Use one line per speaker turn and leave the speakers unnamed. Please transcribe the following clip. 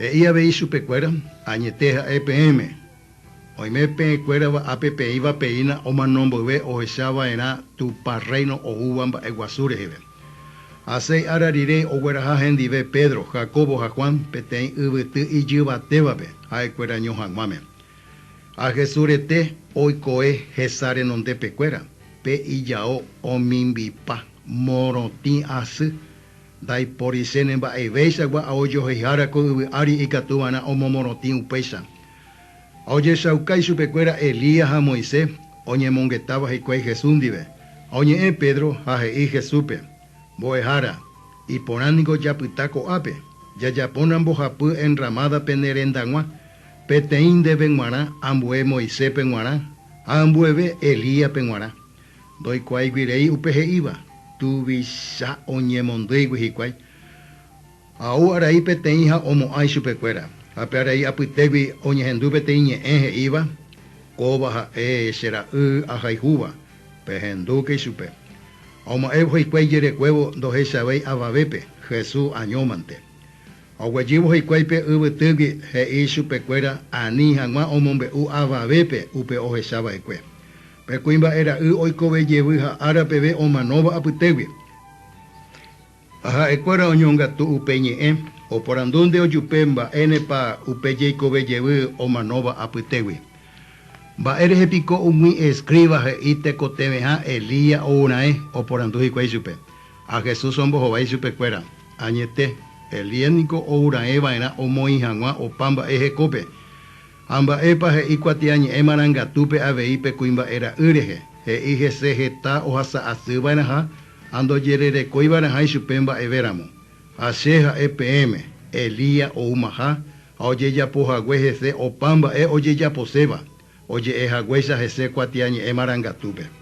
He'i avei chupekuéra, Añete ha'e peẽme, oime peẽ kuérava ápe peĩva peína omano mboyve ohecha vaerã Tupã Rréino oúva mba'e guasu reheve. Ha seis ára rire ogueraha hendive Pedro, Jacobo ha Juan peteĩ yvyty ijyvatévape ha'e kuéra ño haguãme. Ha Jesús rete oikove hesa renondépe kuéra, pe ijao omimbipa morotĩ asy. Ndaiporichéne mba'evéichagua a ojoheihára ko yvy ári ikatu va'erã omomorotĩ upéicha. Ha ojechauka ichupekuéra Elías ha Moisés oñemongetáva hikuái Jesús ndive. Ha oñe'ẽ Pedro ha he'i Jesúspe, Mbo'ehára, iporã ningo japyta ko'ápe, jajapóna mbohapy enramada pene rendag̃ua, peteĩ ndeve g̃uarã ambue Moiséspe g̃uarã ha ambueve Elíaspe g̃uarã. Ndoikuáigui rei upe he'íva, tuvicha oñemondýigui hikuái. Ha'u arai peteĩ ha omo'ã ichupekuéra. Ha pe arai apytégui oñehendu peteĩ ñe'ẽ he'íva, Kóva ha'e che ra'y ahayhúva, pehendúke ichupe. Ha oma'ẽ hikuái ijerekuévo ndohechavéi avavépe, Jesús añómante. Ha oguejývo hikuái pe yvytýgui, he'i ichupekuéra ani hag̃ua omombe'u avavépe upe ohechava'ekue. Pe kuimba'e ra'y oikove jevy ha ára peve omanóva apytégui. Ha ha'e kuéra oñongatu upe ñe'ẽ, oporandu nde ojupe mba'énepa upe jeikove jevy omanóva apytégui. Mba'e rehe piko umi escriba he'i tekotevẽha Elías ourãe, oporandu hikuái chupe. Ha Jesús ombohovái chupe kuéra, Añete, Elías niko ourãe va'erã omoĩ haguã opa mba'e hekópe. Ha mba'épa he'i kuatiañe'ẽ marangatúpe avei pe kuimba'e ra'y rehe? He'i hese heta ohasa asy va'erãha ha ndojererekói va'erãha ichupe mba'eve ramo. Ha Che ha'e peẽme, Elías oumaha ha ojejapo hague hese opa mba'e ojejaposéva, oje'e haguéicha hese kuatiañe'ẽ marangatúpe.